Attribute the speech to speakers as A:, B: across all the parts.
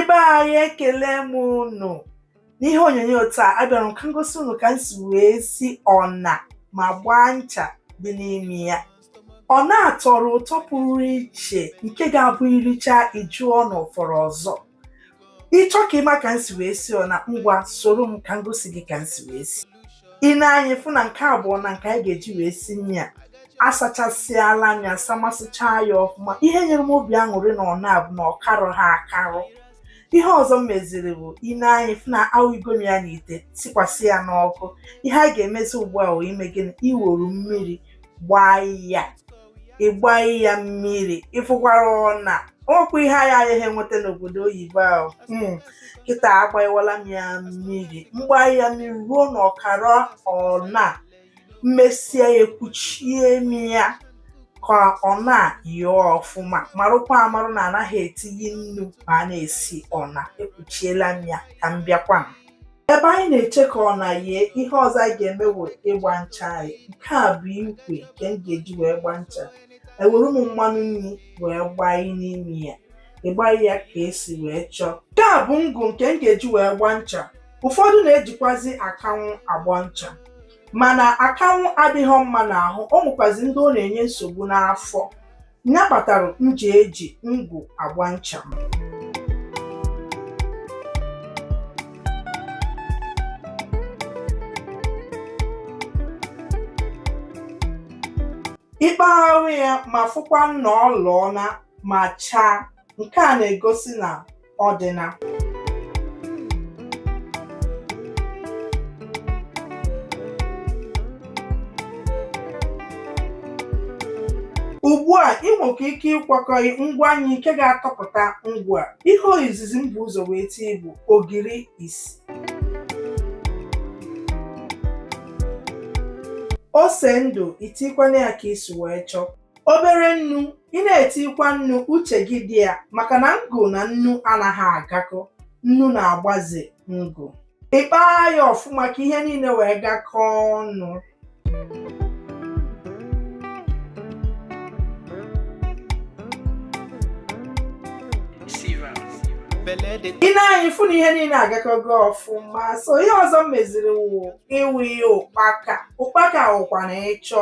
A: ibe anyị ekele m unu n'ihe onyonyo taa abịara m ka m gosi unu ka m si wee si ọna ma gbaa ncha dị n'ime ya ọna tọrọ ụtọ pụrụ iche nke ga-abụ iricha ịjụọ n'ọ fọrọ ọzọ ịchọ ka ịma ka m si wee si ọna ngwa soro m ka m gosi gị ka m si wee si ine anya ịfụ na nke a bụ ọna nke anyị ga-eji wee si nri a asachasịala m ya samasịchaa ya ọfụma ihe nyere m obi aṅụrị n'ọna a bụ na ọ karụ ha akarụ ihe ọzọ m meziri bụ ine anya ịfụ na awụigo m ya n'ite sikwasị ya n'ọkụ ihe anyị ga-emezi ugbu a wụ ime gịnị iweru mmiri gbaa ya ịgbai ya mmiri ịfụkwara ọna ọkwa ihe anyị agaghị enweta n'obodo oyibo ahụ hmm, kịta agbanyewala m ya mmiri m gbanye ya mmiri ruo na ọkara ọna m mesie ya ekwuchie m ya ka ọna yee ọfụma marụkwa amarụ na anaghị etinye nnu ma a na-esi ọna ekwuchiela m ya ka m bịakwa Ebe anyị na-eche ka ọna yee, ihe ọzọ anyị ga-eme bụ ịgba ncha anyị. Nke a bụ ikwe nke m ga-eji wee gba ncha. Ewere m mmanụ nri wee gbai n'ime ya. Ị gbai ya ka isi wee chọọ. Nke a bụ ngụ nke m ga-eji wee gba ncha. Ụfọdụ na-ejikwazi akanwụ agba ncha. Mana akanwụ adịghị mma n'ahụ, o nwekwazi ndị ọ na-enye nsogbu n'afọ. ya kpatara m ji eji ngụ agba ncha m ịkpagharị ya ma fụkwa na ọ lụọna ma chaa nke a na-egosi na ọ dịna ugbu a ị nwekwa ike ịkwakọ ngwa anyị nke ga-atọpụta ngụ a ihe izizi m bu ụzọ wee tie bụ ogiri isi ose ndụ itikwanụ ya ka isi wee chọọ obere nnu ị na-etikwa nnu uche gị dị ya maka na ngụ na nnu anaghị agakọ nnu na-agbaze ngụ ịkpaa ya ọfụma ka ihe niile wee gakọọ ọnụ ine anya ịfụ na ihe niile agakọgo ọfụma so ihe ọzọ m meziri wụ ịwụi ụkpaka ụkpaka wụkwa na ịchọ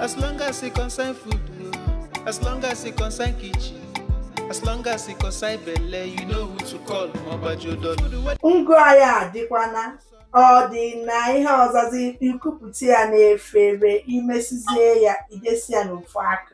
A: As long as e concern food, no. as long as e concern kitchen, as long as e concern belle, you know who to call, Mobajo Dollar. Ngụ anyị adịkwana ọ dịna ihe ọzọzi ikupụta ya n'efere imesizie ya idesi ya n'ofu aka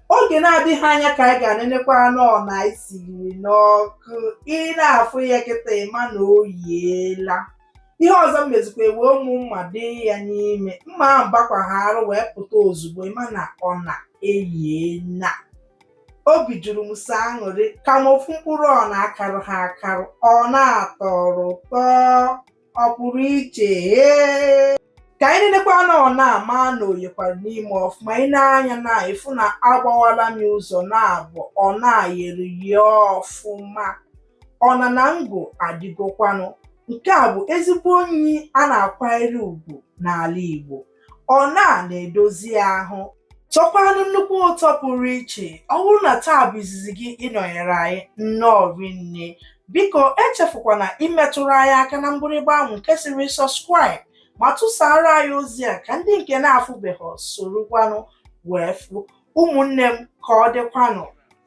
A: oge na-adịghị anya ka anyị gaa nenekwanụ ọna anyị siri n'ọkụ ị na-afụ ya kịta ịma na o yiela ihe ọzọ m mezikwa ewe ụmụ mma dị ya n'ime mma ahụ bakwa ha arụ wee pụta ozugbo ịma na ọna eyiela obi juru m sọ aṅụrị ka m wee fụ mkpụrụ ọna karụ ha akarụ ọ na-atọrọ ụtọ ọ pụrụ iche ee ka anyị nenekwanụ ọna ma na o yekwara n'ime ọfụma i nee anya na ịfụ na agbawala m ya ụzọ naabọ ọna yere eye ọfụma ọna na ngụ adịgokwanụ nke a bụ ezigbo nni a na-akwanyere ugwu n'ala Igbo ọna na-edozi ahụ tọkwanụ nnukwu ụtọ pụrụ iche ọ bụrụ na taa bụ izizi gị ịnọnyere anyị nnọọ rinne biko echefukwana imetụrụ anyị aka na mgbịrịgba ahụ nke sịrị subscribe ma tụsaara anyị ozi a ka ndị nke na-afụbeghị sorokwanụ wee fụ ụmụnne m ka ọ dịkwanụ